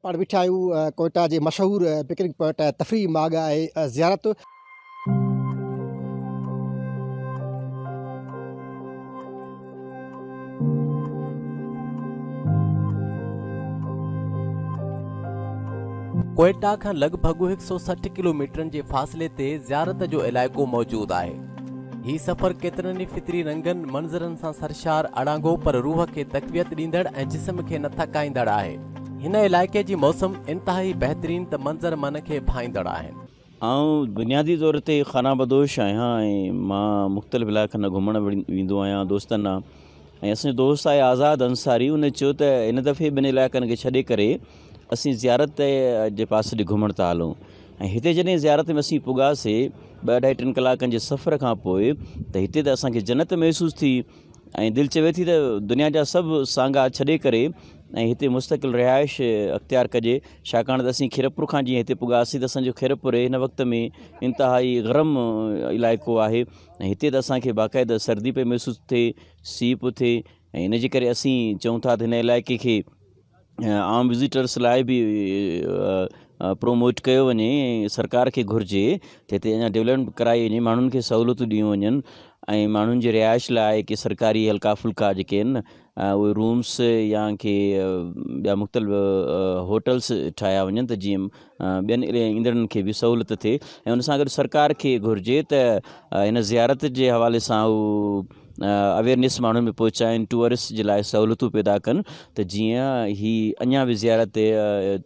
پاڻ ويٺا آهيون ڪوئيٽا جي مشهور پڪنڪ پوائنٽ تفريح ماڳ آهي زيارت. ڪوئيٽا کان لڳ ڀڳ هڪ سؤ سٺ ڪلوميٽرن جي فاصلي تي زيارت جو علائقو موجود آهي. هي سفر ڪيترن ئي فطري رنگن، منظرن سان سرشار، اڙانگو پر روح کي تقويت ڏيندڙ ۽ جسم کي نه ٿڪائيندڙ آهي. هن علائقي جي موسم انتهائي بهترين ته منظر من کي ڀائيندڙ آهن. آئون بنيادي طور تي خانه بدوش آهيان ۽ مان مختلف علائقن ڏانهن گهمڻ ويندو آهيان دوستن ڏانهن ۽ اسان جو دوست آهي آزاد انصاري ان چيو ته هن دفعي ٻن علائقن کي ڇڏي ڪري اسين زيارت جي پاسي ڏي گهمڻ ٿا هلون ۽ هتي جڏهن زيارت ۾ اسين پڳاسي ٻه اڍائي ٽن ڪلاڪن جي سفر کان پوء ته هتي ته اسان کي جنت محسوس ٿي ۽ دل چوي ٿي ته دنيا جا سڀ سانگا ڇڏي ڪري ۽ هتي مستقل رهائش اختيار ڪجي ڇاڪاڻ ته اسين خيرپور کان جيئن هتي پڳاسين ته اسان جو خيرپور هن وقت ۾ انتهائي گرم علائقو آهي ۽ هتي ته اسان کي باقاعده سردي پئي محسوس ٿئي سيء پيو ٿئي ۽ هن جي ڪري اسين چئون ٿا ته هن علائقي کي عام وزيٽرس لاء به پروموٽ ڪيو وڃي ۽ سرڪار کي گهرجي ته هتي اڃا ڊولپمينٽ ڪرائي وڃي ماڻهن کي سهولتون ڏنيون وڃن ۽ ماڻهن جي رهائش لاء ڪي سرڪاري هلڪا ڦلڪا جيڪي آهن اهي رومس يا ڪي ٻيا مختلف هوٽلس ٺاهيا وڃن ته جيئن ٻين ايندڙن کي به سهولت ٿئي ۽ ان سان گڏ سرڪار کي گهرجي ته هن زيارت جي حوالي سان هو اويرنيس ماڻهن ۾ پهچائن ٽوئرسٽ جي لاء سهولتون پيدا ڪن ته جيئن هي اڃا به زيارت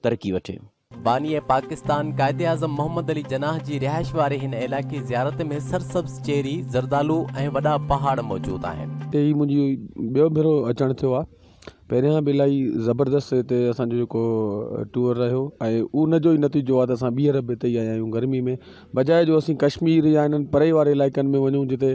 ترقي وٺي باني پاڪستان قائداعظم محمد علي جناح جي رهائش واري هن علائقي زيارت ۾ سرسبز چيري، زردالو ۽ وڏا پهاڙ موجود آهن. هتي هي منهنجي ٻيو ڀيرو اچڻ ٿيو آهي پهريان به الاهي زبردست هتي اسانجو جيڪو ٽوئر رهيو ۽ ان جو ئي نتيجو آهي ته اسان ٻيهر به هتي ئي آيا آهيون گرمي ۾ بجاء جو اسين ڪشمير يا انهن پري واري علائقن ۾ وڃون جتي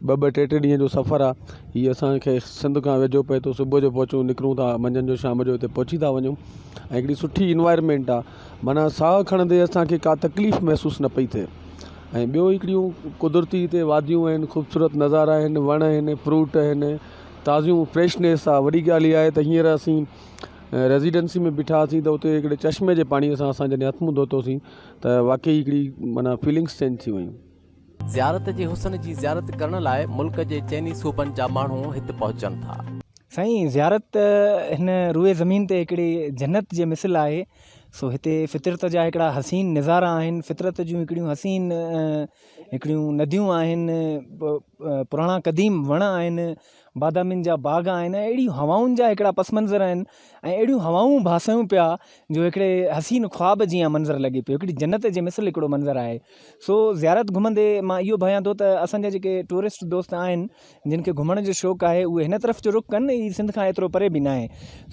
ٻه ٻه ٽي ٽي ڏينهن جو سفر آهي هي اسان کي سنڌ کان ويجهو پئي ٿو صبح جو پهچون نڪرون ٿا منجهند جو شام جو هتي پهچي ٿا وڃون ۽ هڪڙي سٺي انوائرمينٽ آهي معنيٰ ساهه کڻندي اسان کي ڪا تڪليف محسوس نه پئي ٿئي ۽ ٻيو هڪڙيون قدرتي هتي واديون آهن خوبصورت نظارا آهن وڻ آهن فروٽ آهن تازيون فريشنيس آهي وڏي ڳالهه اها آهي ته هينئر اسين ريزيڊنسي ۾ بيٺاسين ته هتي هڪڙي چشمي جي پاڻي سان اسان جڏهن هٿ منهن ڌوتوسين ته واقعي هڪڙي معنيٰ فيلنگس چينج ٿي ويون. زيارت جي حسن جي زيارت ڪرڻ لاء ملڪ جي چئني صوبن جا ماڻهو هت پهچن ٿا. سائين زيارت هن روئي زمين تي هڪڙي جنت جي مثل آهي سو هتي فطرت جا هڪڙا حسين نظارا آهن فطرت جون هڪڙيون حسين هڪڙيون نديون آهن پراڻا قديم وڻ آهن بادامين جا باغ آهن ۽ اهڙيون هوائن جا هڪڙا پس منظر آهن ۽ اهڙيون هوائون ڀاسيون پيا جو هڪڙي حسين خواب جيان منظر لڳي پيو هڪڙي جنت جي مثل هڪڙو منظر آهي سو زيارت گهمندي مان اهو ڀانيان ٿو ته اسان جا جيڪي ٽوئرسٽ دوست آهن جن کي گهمڻ جو شوق آهي اهي هن طرف جو رخ ڪن هي سنڌ کان ايترو پري به ناهي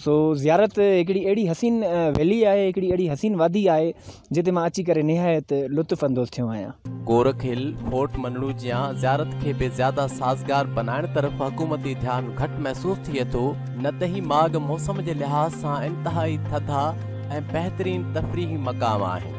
سو زيارت هڪڙي اهڙي حسين ويلي آهي هڪڙي اهڙي حسين وادي آهي جتي مان اچي ڪري نهايت لطف اندوز ٿيو آهيان. گورک هل، ڦورٽ منڙو جيان زيارت کي به زياده سازگار بنائڻ طرف حڪومتي ڌيان گهٽ محسوس ٿئي ٿو، نه ته هي ماڳ موسم جي لحاظ سان انتهائي ٿڌا ۽ بهترين تفريحي مقام آهن.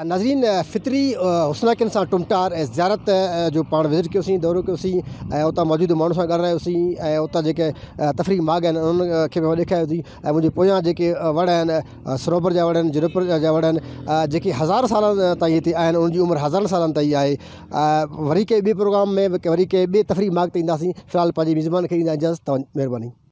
ناظرين فطري حسناڪين سان ٽمٽار ۽ زيارت جو پاڻ وزٽ ڪيوسين دورو ڪيوسين ۽ اتان موجود ماڻهن سان ڳالهرايوسين ۽ اتان جيڪي تفريح ماڳ آهن انهن کي به ڏيکاريوسين ۽ منهنجي پويان جيڪي وڻ آهن صنوبر جا وڻ آهن جنوبر جا وڻ آهن جيڪي هزار سالن تائين هتي آهن انهن جي عمر هزارن سالن تائين آهي وري ڪنهن ٻي پروگرام ۾ وري ڪنهن ٻي تفريح ماڳ تي اينداسين في الحال پنهنجي ميزبان کي ڏيندا اجازت مهرباني